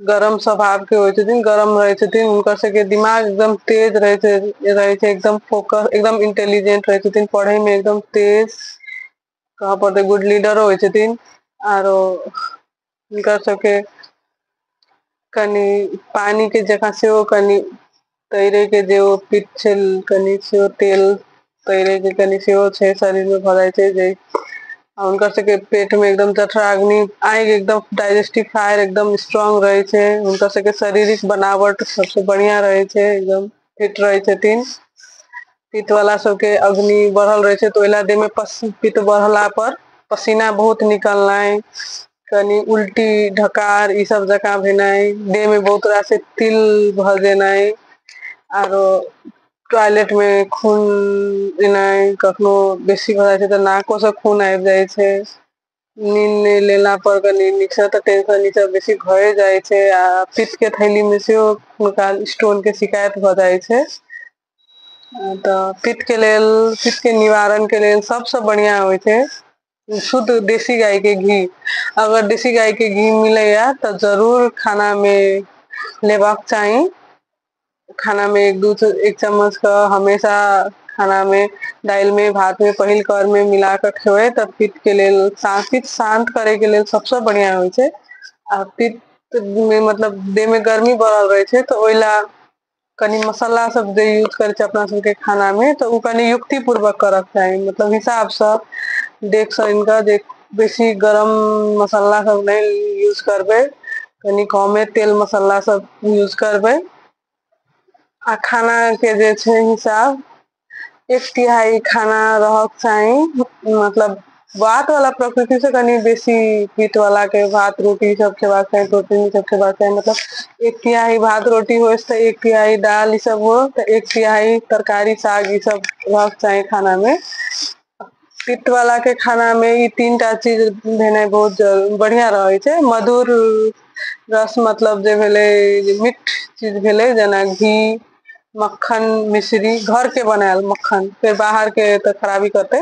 गरम स्वभाव के होइ छथिन गरम रहै छथिन हुनकर सबके दिमाग एकदम तेज रहै छै रहै छै एकदम फोकस एकदम इंटेलिजेंट रहै छथिन पढ़ै मे एकदम तेज कह पड़तै गुड लीडरो होइ छथिन आरो हुनकर सबके कनि पानी के जकाँ सेहो कनि तैरे के जे ओ पिट छै कनि सेहो तेल तैरे के कनि सेहो छै शरीर मे भऽ जाइ छै जे आ हुनकर सबके पेट मे एकदम जठराअग्नि आगि एकदम डायजेस्टिव फायर एकदम स्ट्रोंग रहै छै हुनकर सबके शारीरिक बनावट सबसे बढ़िया रहै छै एकदम फिट रहै छथिन पित्त वला सबके अग्नि बढ़ल रहै छै तऽ ओहि लए देहमे पस पित्त बढ़ला पर पसीना बहुत निकलनाइ कनी उल्टी ढकार ई सब जका भेनाइ देह में बहुत रास तिल भ जेनाइ आरो टॉयलेट मे खून देनाइ कखनो बेसी भ जाइ छै तऽ नाको से खून आबि जाइ छै नीन नहि लेला पर कनी नीक से तऽ टेंशन ई सब बेसी भए जाइ छै आ पित के थैली मे सेहो हुनका स्टोन के शिकायत भऽ जाइ छै तऽ पित्त के लेल पित्त के निवारण के लेल सबसँ बढ़िया होइ छै शुद्ध देशी गाय के घी अगर देशी गाय के घी मिलैया तऽ जरूर खाना मे लेबाक चाही खाना मे एक दू एक चम्मच कऽ हमेशा खाना मे दालि मे भात मे पहिल कर मे मिल कऽ खेबै तऽ पित्त के लेल शांतिक शान्त करे के लेल सबसे बढ़िया होइ छै आ पित्त मे मतलब देह मे गर्मी बढ़ल रहै छै तऽ ओहि लए कनि मसाला सब जे यूज करे छै अपना सब के खाना में तऽ उ कनि युक्ति पूर्वक करऽ के चाही मतलब हिसाब सँ देख सँ सुन कऽ जे बेसी गरम मसाला सब नै यूज करबै कनि कमे तेल मसाला सब यूज करबै आ खाना के जे छै हिसाब एक तिहाई खाना रहक चाही मतलब भात वाला प्रकृति से कनि बेसी पीत वाला के भात रोटी सब खेबाक चाही प्रोटीन सब खेबाक चाही मतलब एक तिहाई भात रोटी हो तो एक तिहाई दाल ई सब हो तो एक तिहाई तरकारी साग ई सब रहक चाही खाना में पित्त वाला के खाना में ई तीन टा चीज भेनाइ बहुत जरूरी बढ़िया रहै छै मधुर रस मतलब जे भेलै मीठ चीज भेलै जेना घी मक्खन मिश्री घर के बनायल मक्खन फेर बाहर के तऽ खराबी करतै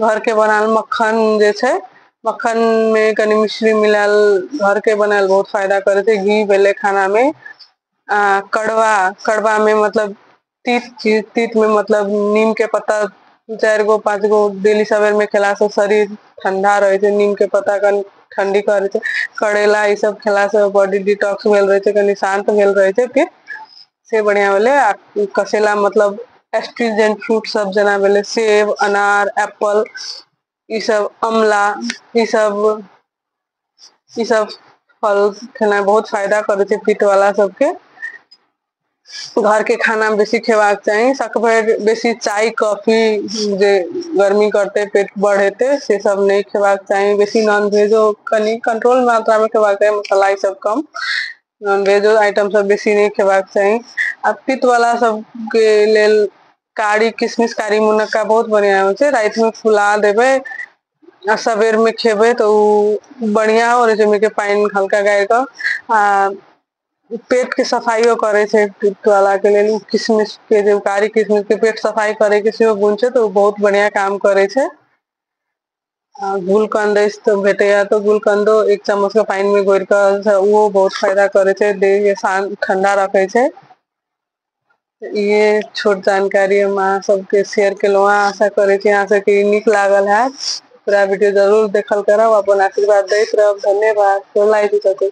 घर के बनायल मक्खन जे छै मक्खन मे कनि मिश्री मिलायल घर के बनायल बहुत फायदा करै छै घी भेलै खाना मे आ कड़वा कड़वा मे मतलब तीत छी तीत मे मतलब नीम के पत्ता दू चारि गो पाँच गो डेली सबेर मे खेला से शरीर ठंडा रहै छै नीम के पत्ता कनि ठंडी करै छै करैला ई सब खेला से बॉडी डिटॉक्स भेल रहै छै कनि शान्त भेल रहै छै फिर से बढ़िया भेलै आ कसेला मतलब एस्ट्रीजेंट फ्रूट सब जेना भेलै सेब अनार एप्पल ई सब अमला ई सब ई सब फल खेनाइ बहुत फायदा करै छै पित्त वला सबके घर के खाना बेसी खेबाक चाही सकभर बेसी चाय कॉफी जे गर्मी करते पेट बढ़ेते से सब नहि खेबाक चाही बेसी नॉनवेजो कनि कंट्रोल मात्रा मे खेबाक चाही मसाला ई सब कम नॉनवेजो आइटम सब बेसी नहि खेबाक चाही आ पित्त वला सबके लेल कारी किशमिश कारी मुनक्का बहुत बढ़िया होइ छै राति मे फुला देबै आ सबेर में खेबै तऽ ओ बढ़िया हो रह छै ओमे के पानि हल्का गारि क आ पेट के सफाइयो करे छै पित्त वला के लेल किशमिश के जे कारी किशमिश के पेट सफाई करे के सेहो गुन छै तऽ ओ बहुत बढ़िया काम करै छै गुलकन्द अछि तऽ भेटैया तऽ गुलकन्दो एक चम्मच के पानि मे घोर कऽ ओहो बहुत फायदा करै छै देह के शान्त ठंडा रखै छै इहे छोट जानकारी हम अहाँ सबके शेयर केलहुँ हँ आशा करै छी अहाँ सबके नीक लागल हैत पूरा वीडियो जरूर देखल करब अपन आशीर्वाद दैत रहब धन्यवाद गोर लागै छी चाची